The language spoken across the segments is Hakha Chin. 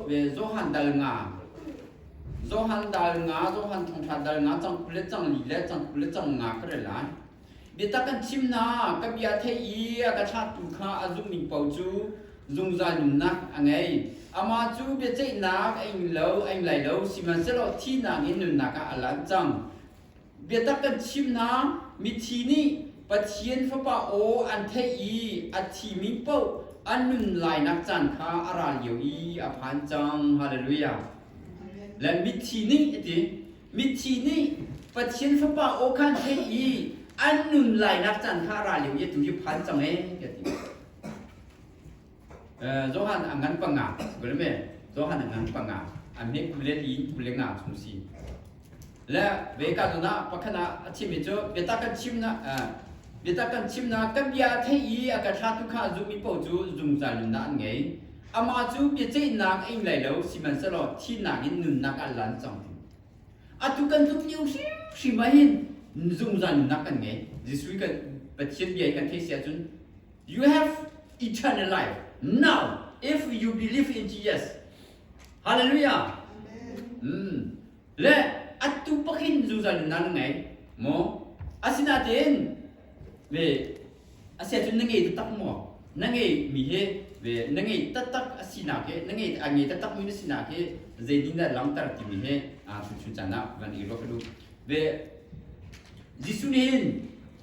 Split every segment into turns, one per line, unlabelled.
ve Johan dal nga Johan dal nga Johan thongtha dal nga cang le cang li le cang le cang nga ka re lai biatak kan chim na ka bia thei i ka thlatu kha a zummi po cu zungzal nunnak a ngei ama cu bia ceihnak a ing lo a ing lai lo sihmanhsehlaw thihnak in nunnak ah a lan cang Biatak kan chimnak mithi nih Pathian Fapa aw an theih i a thimi paoh an nun lainak caan kha a ra lio i a phan cang. Halleluja! Lan mithi nih iti mithi nih Pathian Fapa aw kha an theih i an nun lainak caan kha a ra lio i atu hi a phan cang ee ka ti. Johan angan panga gulme Johan angan panga an me kule li kule nga chung si le ve ka zo na pakhana a thim mi chu biata kan chim na biata kan chim na kan bia thei i a ka thla tu kha zu mi po chu zungzal nun na an ngei ama chu bia chei nak ing lai lo siman selo thi nak in nun nak al lan chang atu kan tluk liu hrim hrim ah hin zungzal nun nak kan ngei Jesuh kan Pathian bia kan thei sia cun You have eternal life. Now, if you believe in Jesus, hallelujah. Mm. Le atu pakin zuzal nan ngei mo asinatin ve asia chun na ngei tatak mo na ngei mi he ve na ngei tatak asina ke na ngei a ngei tatak mi na sina ke zei din da langtar ti mi he a chu chu chana van i ro ka du ve Jesu ne hin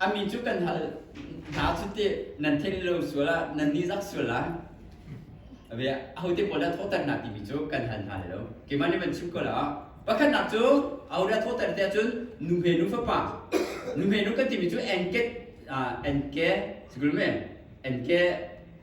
A mi cu kan hal hna cu te nan theih lo sual ah nan nih zak sual la. Ve ahote pawl dah thawhter na timi cu kan hal hna lai lo. Keiman nih van chim ko la. Pakhatnak cu aho dah thawhter te ahcun nu he nu fapa nu he nu kan timi cu enke ah enke sikul me enke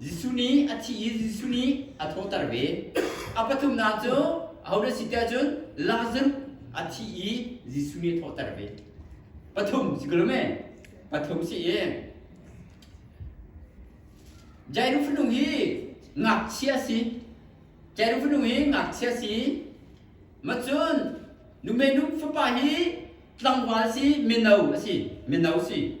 Jesuh nih a thih i Jesuh nih a thawhter ve. A pathumnak cu ho na si tiah cun Lazarus a thi i Jesuh nih a thawhter ve. Pathum si ko me? Pathum si i Jairus fanu hi ngakchia si. Jairus fanu hi ngakchia si. Macun nume nu fapa hi tlangval si mino a si. Mino si.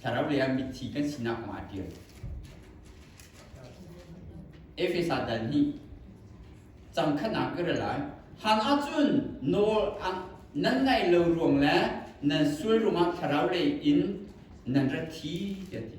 Thlarau lei ah mithi kan sinak kong ah ṭial. Efesa dal nih cang khatnak ka ra lai. Han ahcun nawl nan ngaih lo ruang le nan sual ruang ah thlarau lei in nan rat thi tiah ti.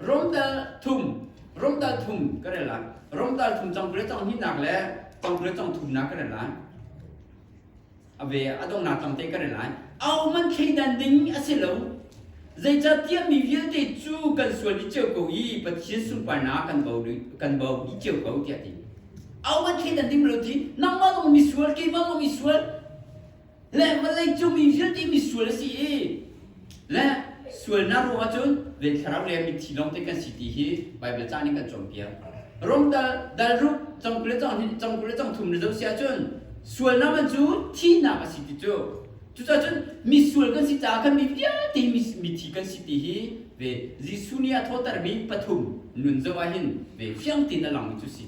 Romdal thum Romdal thum ka rel lai Romdal thum congpre cong hninak le congpre cong thumnak ka rel lai a ve a dongnak tam te ka rel lai au man thleidan ding a si lo zeicahtiah mi vialte cu kan sual i ceu ko i pathian sunparnak kan bo kan bo i ceu ko tiah ti au man thleidan ding lo ti nangmah zong mi sual keimah zong mi sual le vawlei cung mi vialte mi sual a si i le sualnak ruang ah cun ve thlarau le mitthi lawng te kan si ti hi Baibal ca nih kan cawnpiak rom dal dal rup cang kule cang cang kule cang thum rezo sia cun sualnak man cu thihnak a si ti cu cucaah cun mi sual kan si caah khan mi vialte mithi kan si ti hi ve Jesuh nih a thawhtermi pathum nun zo ah hin ve fiang tin a lang mi cu si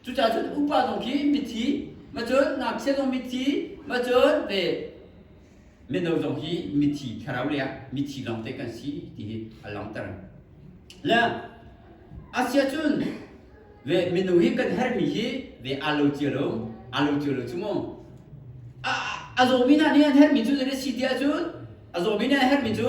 Cucaah cun upa zong khi mitthi macun ngakchia zong mitthi macun ve mino zong hi mitthi thlarau le ah mitthi lawng te kan si ti hi a langter le asia cun ve minu hi kan hermi hi ve alo cia lo alo cia lo chu mu a zawmi hna nih an hermi cu zan si tiah cun a zawmi nih an hermi cu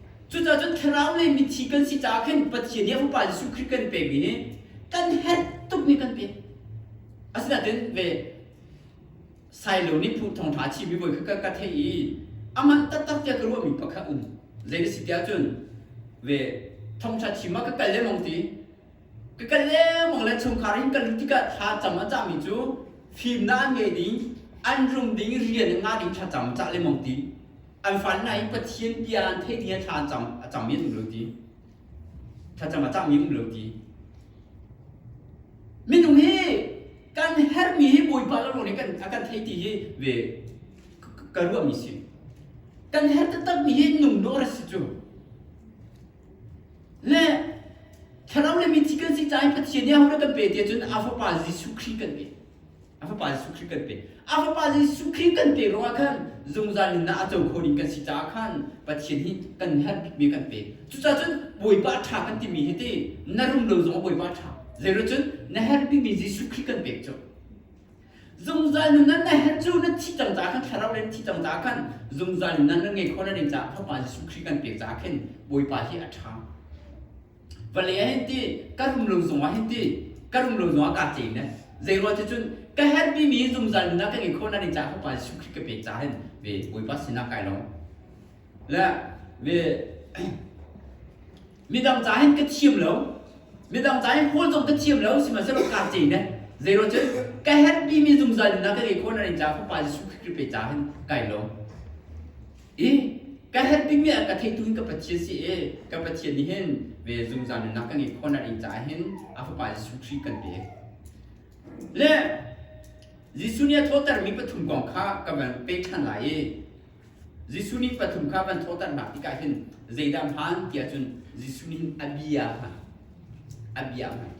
Cucaah cun thlarau lei mithi kan si caah khin Pathian nih a Upa Jesuh Khrih kan pemi nih kan herh tuk ni kan pe. Asinain ve Sailo nih phu thong ṭha a chimmi voi kha ka, ka theih i amah taktak tiah ka ruahmi pa kha um. Zei na si tiah cun ve thong ṭha chim ah ka kal lengmang ti ka kal lengmang le chungkhar in kal tikah thlacam a cahmi cu fimnak an ngei ding an rum ding rian in ngah ding thlacam a cah le mong ti an fannak in pathian bia an theih ding thla an cang a cangmi um lo ti thlacam a cangmi um lo ti minung hi kan hermi hi bawipa lo lawng nih kan a kan thei ti hi ve ka ruahmi si kan her takmi hi nung no rat si cu Le thlarau le mithi kan si caah i Pathian nih a ho dah kan pe ti ahcun a Fapa Jesuh Khrih kan pe. A Fapa Jesuh Khrih kan pe. A Fapa Jesuh Khrih kan pe ruangah khan zungzal in ah a co kho ding kan si caah khan Pathian hi kan herh bikmi kan pe. Cucaah cun Bawipa ṭha kan timi hi ti na rum lo zong a Bawipa ṭha. Zeiruat cun na herh bikmi Jesuh Khrih kan pek cu. Zungzal nunnan na herh cu na thi cang caah kan thlarau le na thi cang caah khan zungzal nunnan na ngei kho na ding caah Fapa Jesuh Khrih kan pek caah khin Bawipa hi a ṭha. Vale ah hin ti ka rum lo zungah hin ti ka rum lo zungah kaa tlei ne zeirual ti cun ka herhmi mi zungzal nunnak ka ngei kho na ding caah Fapa Jesuh Khrih ka pek caah hin ve Bawipa sinah kai lawm. Le ve midang ca hin ka thiam lo midang ca hin paul zong ka thiam lo sihmanhsehlaw ka ce ne zeiro cun ka happy mi zungzal nuna ka ngei khona rin ca fapa Jesuh Khrist pe ca hin kai lo i ka happy mi ka thei tu hin ka pathian si e ka pathian ni hin ve zungzal nuna ka ngei khona rin ca hin a fapa Jesuh Khrist kan pe le Jesuh nih a thawhter mi pathum kong kha ka van pek ṭhan lai i Jesuh nih pathum kha van thawhternak tikah hin zeidah hmaan tiah cun Jesuh nih a bia hman. A bia hman.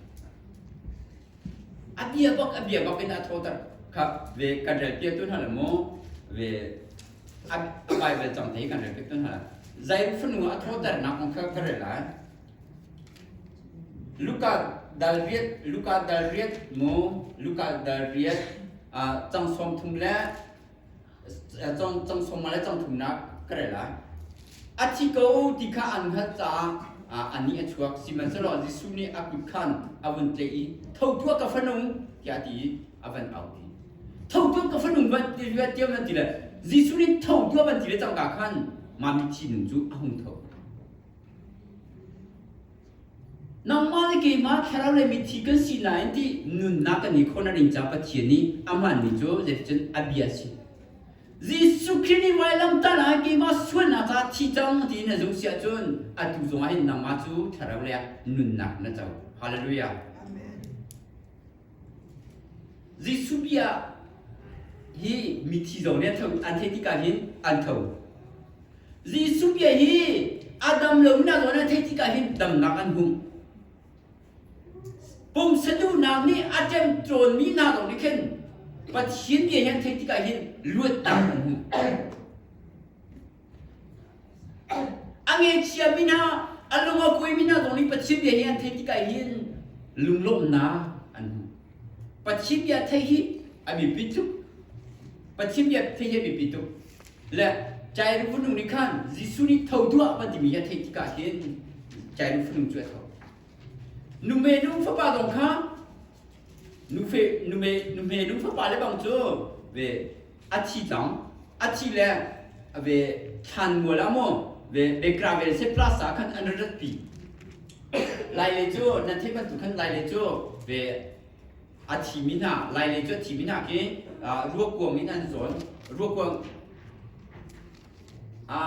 A bia bak a bia bak in a thawter kha ve kan rel piak tu hna la mu ve a Bible cang te kan rel piak tu hna la zai fanu a thawternak kong kha ka rel lai Luka dal riat Luka dal riat mu Luka dal riat cang som thum le cang sawmma le cang thumnak ka rel lai a thi ko ti kha an hngalh caah a ni a chuak sihmanhsehlaw Jesuh nih a kut khan a vun tle i tho tuah ka fanu tiah ti a van au i tho tuah ka fanu luat tiam nan ti le Jesuh nih tho tuah van ti le cangka khan mami thi nun cu a hung tho Nangmah le keimah thlarau le mithi kan si lai ti nunnak kan ngei khawh na ring caah Pathian nih amah ni cu zeiticun a bia a si. Jesuh Khrih nih vai lamtah lai keimah sualnak caah thi cang tiin na zumh si ahcun atu zongah hin nangmah cu thlarau le ah nunnak na co. Hallelujah. Amen. Jesuh bia ah hi mithi zong nih an tho an theih tikah hin an tho. Jesuh bia hi a dam lonak zong an theih tikah hin damnak an hmuh. Pumsa duhnak nih a ṭem cawnmi hna zong nih khin Pathian bia hi an theih tikah hin luatnak an hmuh. A ngechia mina a lung a kuai mina zong nih Pathian bia nih an theih tikah hin lunglawmhnak an hmu. Pathian bia theih hi a biapi tuk. Pathian bia theih hi a biapi tuk. Le Jairu fanu nih khan Jesuh nih tho tuah a van timi a theih tikah hin Jairu fanu cu a tho. Nume nu fapa zong kha nufe nume nume nu fapa le bang cu ve a thi cang a thi le ve thlan mual ah maw ve ve gravel se plus ah khan an rat pi lai le cu nan theih bantuk khan lai le cu ve a thi mi hna lai le cu a thi mi hna ke ruakkuang in an zawn ruakkuang a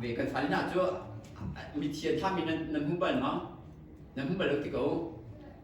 ve kan fali hna cu mitthia tha mi nan hmu bal ma nan hmu bal lo ti ko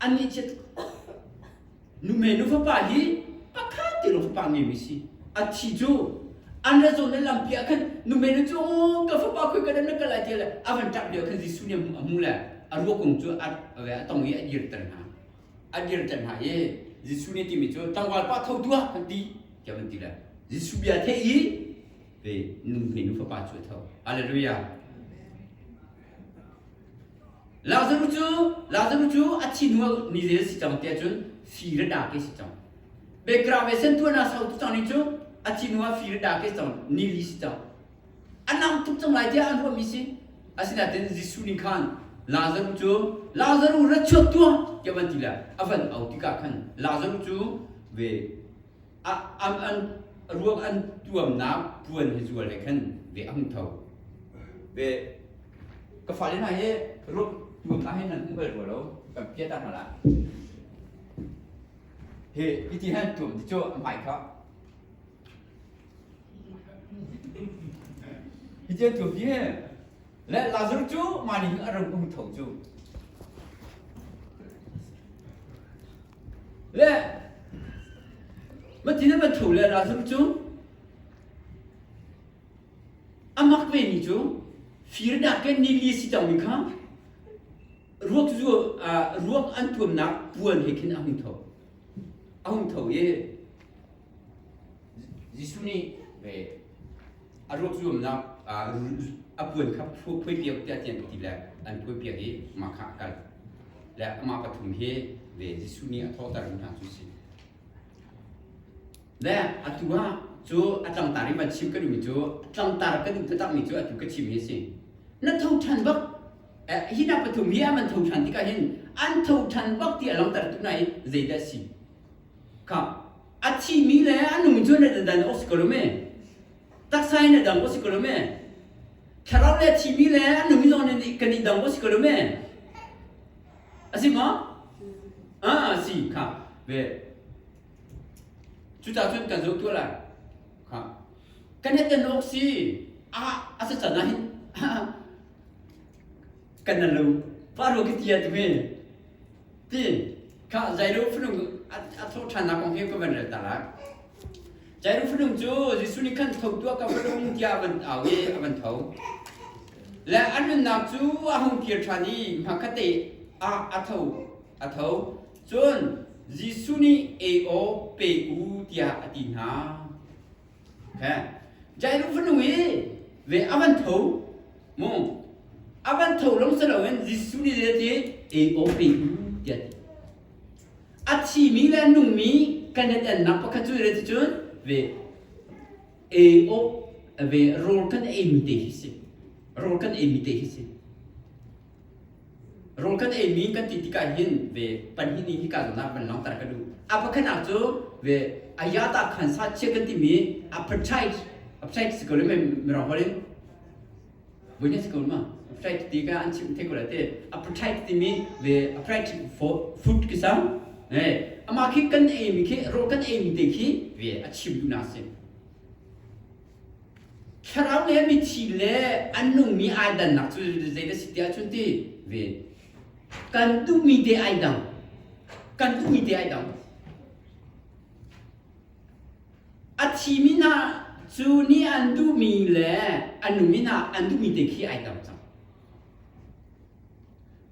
Anih cu nume nu fapa hi pakhat te lo fapa ngemi si. A thi cu an ra zawn le lampi ah khan nume nu cu aw ka fapa khui ka dan na kal lai tiah le a van ṭap lio khan Jesuh nih a hmu a hmu le a ruakung cu a a tong i a dirter hna. A dirter hna i Jesuh nih a timi cu tlangval pa tho tuah kan ti tiah van ti le Jesuh bia theih i ve nume nu fapa cu a tho. Halleluja! Lazarus cu Lazarus cu a thi hnu ni zel a si cang tiah cun fir a dak i a si cang. Background ve sentuahnak sotu cang nih cu a thi hnu ah fir a dak i a si cang ni li si cang. A nang tuk cang lai tiah an ruahmi si. Asinain Jesuh nih khan Lazarus cu Lazarus ra chuak tuah tiah van ti lai. A van au tikah khan Lazarus cu ve ruang an tuamnak puan hi zual he khan ve a hung tho ve ka fale hna hi ruang tuamnak hi nan um bal rua lo kan pia ta hna la hi hiti han tuam ti cu amai kha hi tia tuam ti le lazar cu mani a rang um tho cu le matin a van ṭhu le ralzam cu a mak vemi cu firnak ke ni li si cangmi kha ruak zu ruak an tuamnak puan he khin a hung tho a hung tho i Jesuh nih ve a ruak zuamnak a puan kha phuaipiak tiah ti an ti le an phuaipiak i mahka a kal le amah pathum hi ve Jesuh nih a thawhtermi hna cu si le atu ah cu a tlangtar i man chim ka duhmi cu tlangtar ka duh takmi cu atu ka chimmi a si na tho ṭhan bak hi hna pathum hi an man tho ṭhan tikah hin an tho ṭhan bak ti a langhtertu hna hi zeidah a si ka a thimi le a nung cu na dan os ko me taksa in na dang os ko me thlarau le thimi le a nung zong ni kan in dang os ko me asi ma a si kha ve cu ta cun kan zo kyo lai kha kan he ten ok si a asa chana hin kan na lo pa ro ki tia tu me ti kha Jairo fanu a thawhṭhannak kong hi ka van rel tarak. Jairo fanu cu Jesuh nih khan tho tuah ka fanu tiah a van au i a van tho. Le an nunnak cu a hung kir ṭhan i hmakate ah a tho a tho. Cun Jesuh nih ei aw pe u tiah a ti hna. Jainu fanu hi ve a van tho mu a van tho lo si loin Jesuh nih zet i AOP tiah a thimi le nungmi kan i telnak pakhat cu rat cun ve AO ve rawl kan eimi te hi si rawl kan eimi te hi si Rung kan ei mi kan ti tikah hin ve pahnih nih hika zongah kan langhter ka duh. A pakhatnak cu ve aya ta khan sa chia kan timi aphaṭhait aphaṭhait si ko le mirang holh in voihnih si ko ma aphaṭhait ti ka an chim the ko la te aphaṭhait timi ve aphaṭhait food ki sang eh amah khi kan ei mi khi rul kan ei mi te khi ve a chim duhnak a si. Thlarau le mitthi le an nungmi ai dannak cu zei na si tiah cun ti ve kan duhmi te ai dang kan duhmi te ai dang a thimi hna cu nih an duhmi le an nungmi hna an duhmi te khi ai dang cang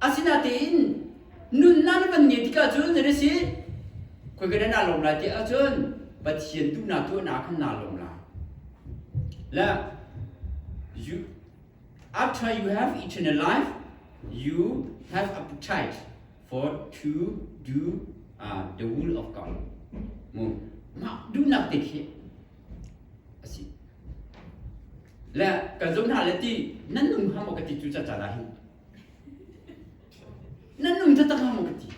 Asinain nunnak na kan ngeih tikah cun nan i si khoi kan na lawm lai ti ahcun Pathian duhnak cu na khan naa lawm lai. Le you, after you have eternal life, you have appetite for to do uh, the will of God. Mu, mah duhnak te khi asi. Le ka zon hna le ti nan nung ham ka ti cu ca ca da hin Nan nung ta tak maw ti.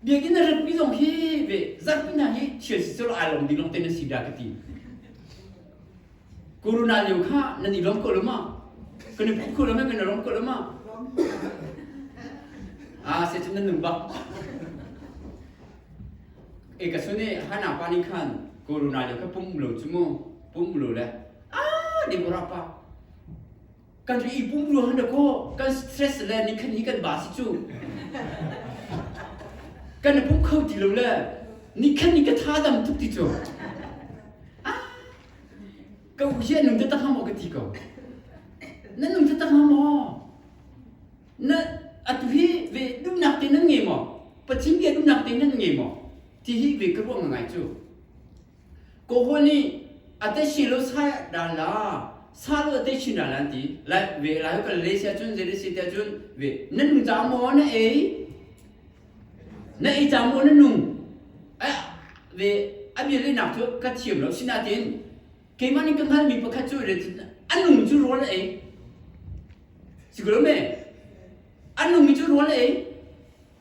Biak in a rat pi zong hi ve zak pi na hi thil si col ai lom ding long te na si da ka ti. Corona lio kha nan i lom ko loma. Kan i phup ko loma kan i rom ko loma. Ah se cun nan nung bak. E ka sune hana pa ni khan corona lio kha pum lo chu mu pum lo le ah ding ko ra pa kan i pum ruang in dakaw kan stress le nikhan hi kan ba si cu kan i pum kho ti lo le nikhan ni ka tha dam tuk ti cu ka u hi nung te tak ha maw ka ti ko na nung te tak ha maw na atu hi ve dumnak te nan nge maw pachin ge dumnak te nan nge maw ti hi ve ka ruang ngai cu Kaw nih ate shilo sai ral la salo ate shin ral an ti lai ve lai kan le sia cun zeri si te cun ve na nung ta mo na ei na ei ta mo na nung ai ve abia le nak cu ka thiam lo sinatin keimah nih ka hngal mi pakhat cu le a nung cu rawl a ei si lo me a nung mi cu rawl a ei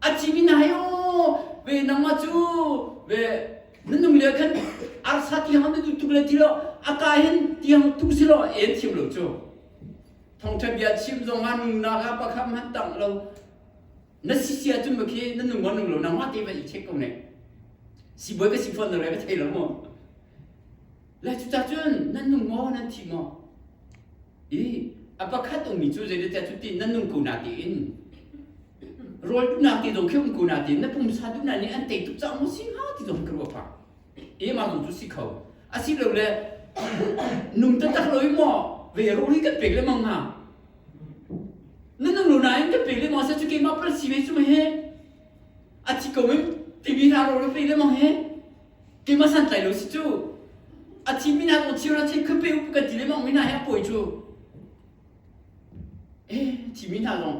a cimi na hai o ve nangma cu ve nunung le khan arsa tiang na duh tuk le ti lo a ka hin tiang tuk si lo en thiam lo cu thongtha bia chim zong ha nung na ha pakham han tang lo na si sia cun ma khi na nung gon nung lo nang ma te va i check ko ne si boi va si phone na re va thei lo mo la cu ta cun nan nung ngo nan thi ngo I a pakhat ummi cu zeiteteh cu ti nan nung ko na tiin rawl duh na ti lo khi um ko na tiin na pumsa duh na nih an tei tuk cang mu si ha ti lo ka ruah pa i ma zong cu si kho a si lo le num ta tak lo i mo ve ro hi kan pek le mang nga na nung lo na in kan pek le mang sa chu keimah pal si ve chu ma he a chi ko in tv ha ro le pe le mang he Keimah san tlai lo si cu. A thi mi nak thir a thei khupe upu kan ti le mong mi hna he a pawi cu. Eh thi mi hna zong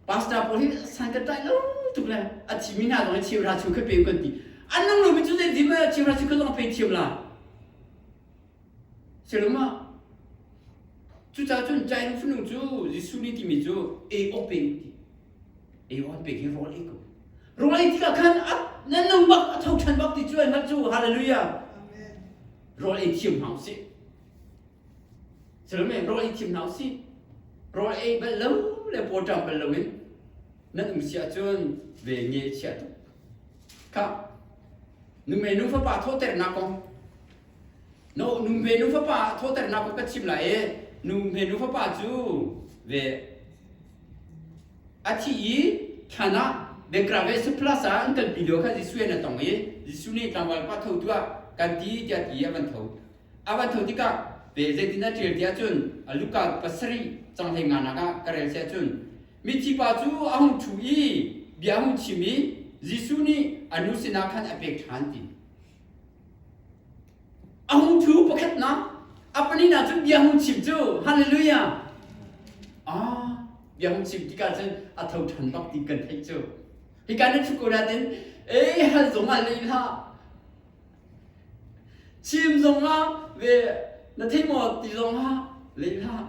pastor pawl hi san kan tlai lo tuk le a thi mi hna zong hi thir ra chu khupe u kan ti. An nang lo mi cu zei dim thir ra chu kan long phei thiam la. Selum ah cucaah cun Cain fanu cu Jesuh nih timi cu ei awk peng ti ei awk an pek hi rawl ei ko rawl ei tikah khan a na nung bak a tho ṭhan bak ti cu ai hngalh cu hallelujah rawl ei thiam hna usih Selum rawl ei thiam hna usih rawl ei bal lo le pawṭam bal lo in nan um si ahcun ve nge chia tuk khah nu mei nu fapa thawhternak kong No numve nu fapa thawternak ka chim lai e numve nu fapa cu ve a thi i than ah bengkra ve su plus ah an kalpi lio khan Jesuh an tong i Jesuh nih tlangval pa tho tu ah kan ti tiah ti a van tho a van tho tikah ve zeitin a ṭial ti ahcun a luka pasarih canghlei nganak ah ka rel si ahcun mithi pa cu a hung ṭhu i bia a hung chim i Jesuh nih a nu sinah khan a pek ṭhan ti A hung thu pakhatnak a paninak cu bia hung chim cu hallelujah ah bia hung chim tikah cun a tho ṭhan bak ti kan theih cu hika ni thukurat in e hal zong ah lei hlah chim zong ah ve na thei maw ti zong ah lei hlah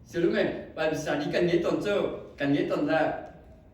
sialung e Bible study kan nge ton cu kan nge ton dah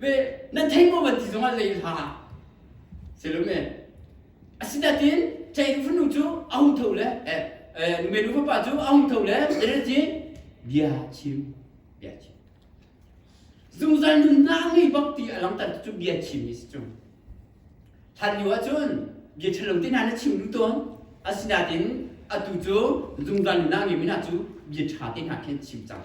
ve nan thei ko van ti zongah zei hla selume asinain chei fanu cu a hung tho le eh eh nume nu fapa cu a hung tho le relji bia chim bia chim zungzal nunnak ngei bak ti a langtan cu bia chim ni si cung hlan lio ahcun bia thalong te na chim lu ton asinain atu cu zungzal nunnak ngei mina cu bia tha te na khen chim cang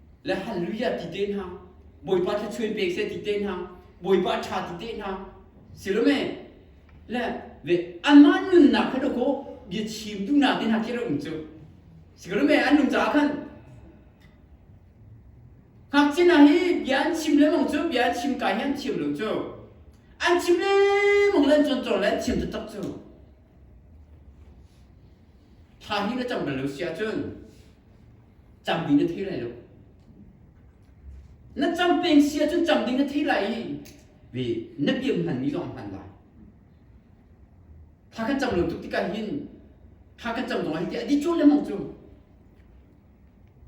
le hallelujah ti te hna bawipa thluachuai pek seh ti te hna bawipa tha ti te hna silome le ve anmah nunnak kha do ko bia chim tu na te hna ti rum cu sikalome an nung caah khan ngakchin na hi bia an chim le mong cu bia an chim kai hi an thiam lo cu an chim le mong len chon chon le an chim taktak cu Thla hi na cam bal lo si ahcun campi na thei lai lo. Na cam peng si ahcun cam ding na thei lai i ve na piam hmanmi zong a hman lai. Thla kan cam lo tuk tikah hin thla kan cam zong ah hi ti a di cun le mong cu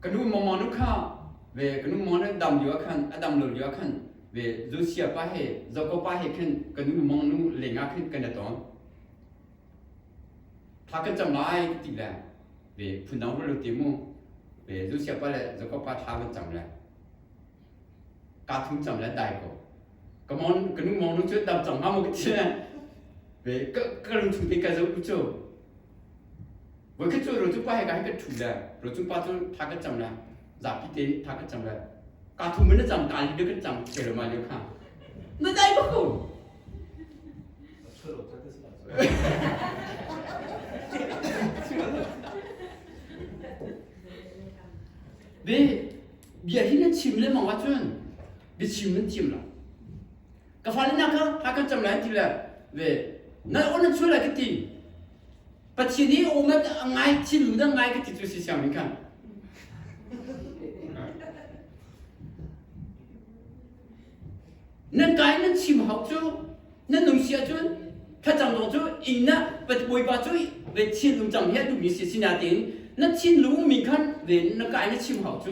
ka nu mawmaw nu kha ve ka nu mawmaw nu dam lio ah khan a dam lo lio ah khan ve Zusia pa he Zoko pa he khin ka nu mawmaw nu leng ah khin kan i ton tha kan cam lai ka ti le ve phun dang ru ti mu ve Zusia pa le Zoko pa tha kan cam le ka thu cam le dai ko ka mawn ka nu mawmaw nu cu dam cang nga mu ka ti le ve ka ka lung chung te ka zo u cu Voikhat cu rocu pa he ka hei kan ṭhu le rocu pa cu tha kan cam le zapi te tha kan cam le ka thu men na cam ka li de kan cam ke lo ma le kha na dai ba ko Bi bia hi na chim le mangwa cun bi chim nan chim lo ka falennak kha ha kan cam lai ti le ve nal on chuan lai ka ti pathin i omat ngai thil lung dang ngai ka ti tu si siang ning khan nan kai nan chim hau cu nan nung sia cun thlacam dong cu ingna bawipa cu ve thil lung cang he duhmi si sina tin na thin lung min khan ve na kai na chim hau cu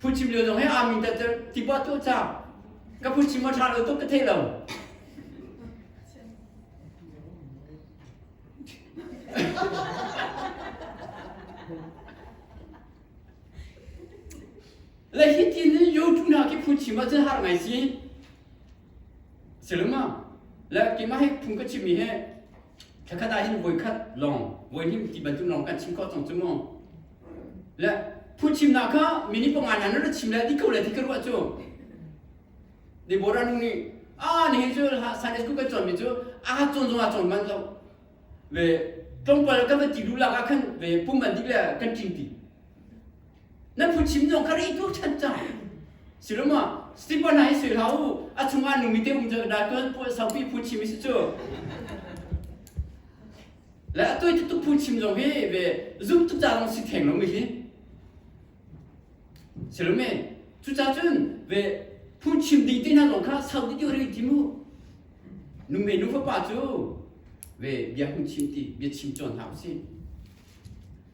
Phuchim lio zong he aa min tat tibuah tuah cang. Ka phuchim a ṭha lo tuk ka theih lo. Le hi tin in yo tu na ki phuchim a cun har ngai si. Silung ma. Le ki ma he phung ka chim mi he. Thakhat ah hin voi khat long voi him ti bantum long kan chim ko tong chu mu. Le phuchimnak kha mi ni panga nan ra chim le ti ko le ti ka ruah cu Deborah nu nih a ni cu Sunday school kan cawnmi cu a cawn zong a cawn manh lo ve tlawmpal kan va ti lu lak ah khan ve pum an dik le kan tling ti nan phuchim zong kha rei ko chan cang siloma stipa hna hi sui hlah u a chung ah numi te um ca dal tuan pu saupi phuchim isi cu Le a toi tuk phunchim lo hi ve zumh tuk cang si theng lo mi hi silomi cu ca cun ve phunchim ding te hna zong kha sau dih ti ri ti mu nungei nu fapa cu ve bia hung chim ti bia chim cawn hna u si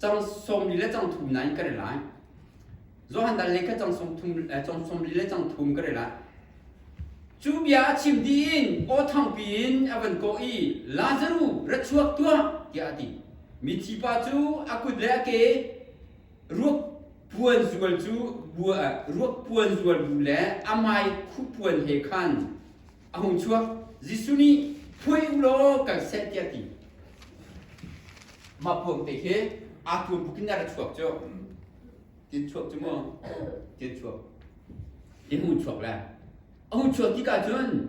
Cang sawmli le cang thum nain ka ri lai. Johan dal le kha cang sawmthum eh, cang sawmli le cang thum ka ri lai. Cu bia a chim dih in aw thangpi in a van kawh i Lazaru ra chuak tuah tiah a ti. Mi thipa cu a kut le a ke ruak puan zual cu bua, eh, ruak puan zual bu le a mai khuh puan he khan a hung chuak Jesuh nih phuai u law kan set tiah ti mah phung te khi a kum bukin na ra chuak cu tin chuak cu mu tin chuak tin hung chuak le a hung chuak ti ka cun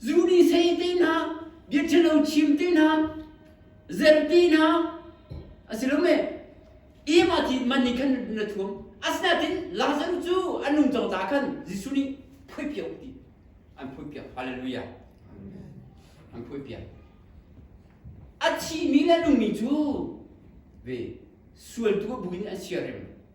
zu nih sei te hna bia ṭhalo chim te hna zer te hna a si lo me im a ti man nih khan na thuam asinain Lazarus cu an nung cang caah khan Jesuh nih phui piak ti an phui piak hallelujah an phui piak a thihmi le nungmi cu ve sual tu bu in an siarem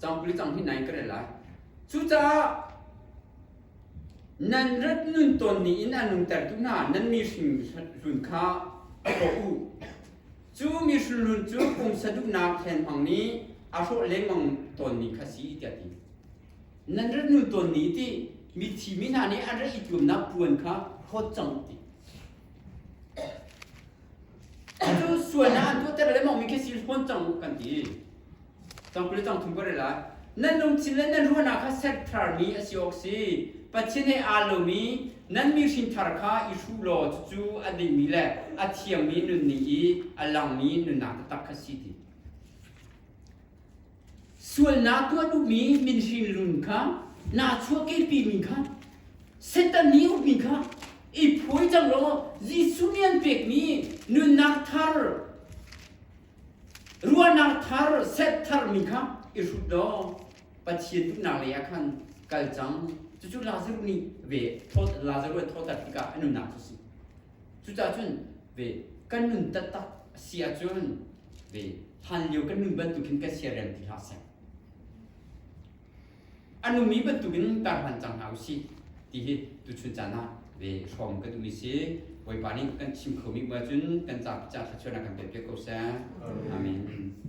Cangpuli cang hi nan ka rel lai. Cucaah nan rat nun ton ni in an nungtertu hna nan mihring hlun kha hrawh u. Cu mihring hlun cu pumsa duhnak hlenhmang nih a hrawh lengmang tawn ni kha si tiah ti. Nan rat nun ton ni ti mithi mi hna nih an rat i tuamnak puan kha hlawt cang ti. Atu sual na tuatter le mongmi khi si fawn cang kan ti. Cang kule cang thum kore lai. Nan lungthin le nan ruahnak kha set tharmi a si awk si. Pathian he aa lomi nan mi hrinthar kha i hruh law cucu a dingmi le a thiangmi nunning i a langmi nunnak taktak kha si ti. Sualnak tuah duhmi min hrinhlun kha naa chuahkehpimi kha Satan nih ukmi kha i phuai cang law Jesuh nih an pekmi nunnak thar ruahnak thar set tharmi kha i hrut law Pathian duhnak lei ah khan kal cang cucu Lazaruh nih ve Lazaruh a thawhter tikah a nunnak cu a si. Cucahcun ve kan nun taktak a si ahcun ve hlanlio kan nun bantukin kan siarem ti hlah seh. A numi bantukin kar hlan cang hna usih ti hi tuchun caan ah ve hrawm kan um i si. Bawipa nih kan chim khomi bu ahcun kan ca ca thluachuahnak kan pe piak ko seh. Amen.